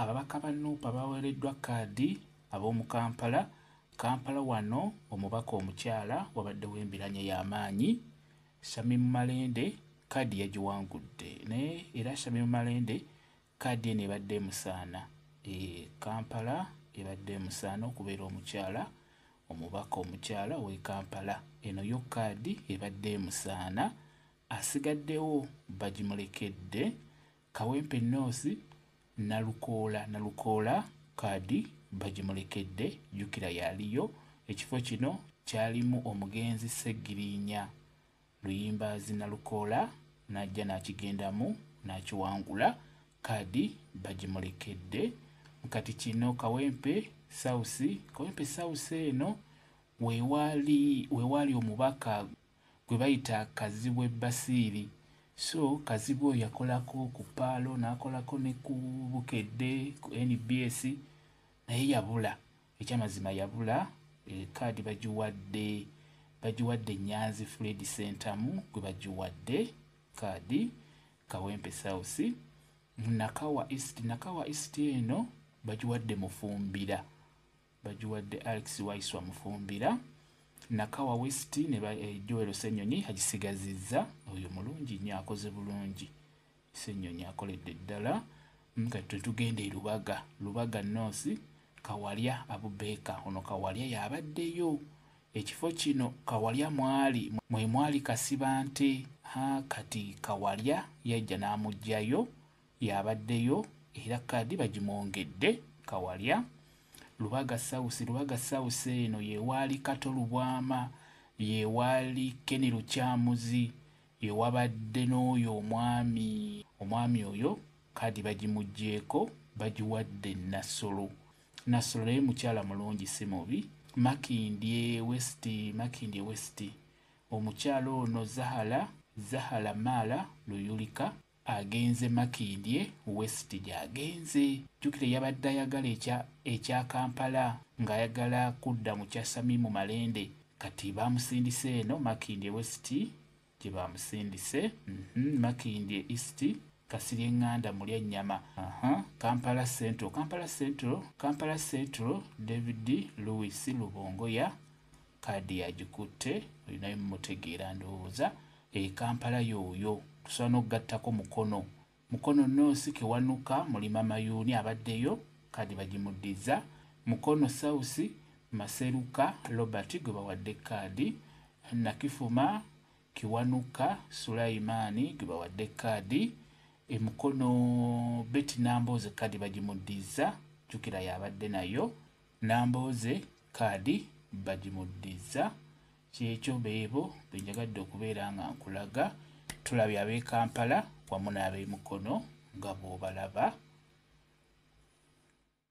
Ababaka ba nup abaweereddwa kkaadi ab'omu Kampala Kampala Wano omubaka omukyala wabaddewo embiranye y'amaanyi Shamim Malende kkaadi yagiwangudde naye era Shamim Malende kkaadi eno ebadde emusaana e Kampala ebadde emusaana okubeera omukyala omubaka omukyala ow'e Kampala eno yo kkaadi ebadde emusaana asigaddewo bagimulekedde Kawempe North, Nalukoola Nalukoola kaadi bagimulekedde. Jjukira yaliyo ekifo kino kyalimu omugenzi Ssegiriinya Luyimbaazi Nalukoola n'ajja n'akigendamu n'akiwangula, kaadi bagimulekedde. Kati kino Kawempe South, Kawempe South eno we waali omubaka gwe bayita Kazibwe Basiiri so Kazibwe oyo yakolako ku paalo n'akolako ne ku Bukedde ku nbs naye yabula ekyamazima yabula e, kaadi bagiwadde bagiwadde Nyanzi Fred Sentamu gwe bagiwadde kaadi Kawempe South Nakawa East Nakawa East eno bagiwadde Mufumbira bagiwadde Alex Waiswa Mufumbira, Nakawa West ne ba eh, Joel Ssenyonyi agisigazizza. Oyo mulungi nnyo, akoze bulungi. Ssenyonyi akoledde ddala. Mm, kati twe tugenda e Lubaga, Lubaga North, Kawalya Abubeeka. Ono Kawalya yabaddeyo ekifo kino Kawalya mwali mwe mwali Kasibante. Ha, kati Kawalya yajja n'amugyayo. Y'abaddeyo era kaadi bagimwongedde. Kawalya, Lubaga South, Lubaga South eno y'ewaali Kato Lubwama, y'ewaali Kenny Lukyamuzi, ye wabadde n'oyo omwami. Omwami oyo kaadi bagimuggyeeko bagiwadde Nassolo. Nassolo naye mukyala mulungi si mubi. Makindye West, Makindye West, omukyala ono Zahala, Zahala Maala Luyulika. Agenze Makindye West gy'agenze. Jjukira yabadde ayagala ekya ekya Kampala ng'ayagala kudda mu kya Samimu Malende. Kati baamusindise eno Makindye West gye baamusindise. Mhm, Makindye East, Kasirye Nganda Mulyannyama. Aha, Kampala Central, Kampala Central, Kampala Central, David Louis Lubongoya Kaadi yagikutte olinayo mumutegeera ndowooza e Kampala yooyo tusobola n'okugattako Mukono Mukono North Kiwanuka Mulima Mayuuni abaddeyo kaadi bagimuddizza Mukono South Maseruka Robert gwe bawadde kaadi Nakifuma Kiwanuka Sulayimaani gwe bawadde kaadi e Mukono Betty Nambooze kaadi bagimuddizza jjukira y'abadde nayo Nambooze kaadi bagimuddizza. Ky'ekyo beebo be njagadde okubeera nga nkulaga. Tulabye ab'e Kampala wamu n'ab'e Mukono nga bw'obalaba.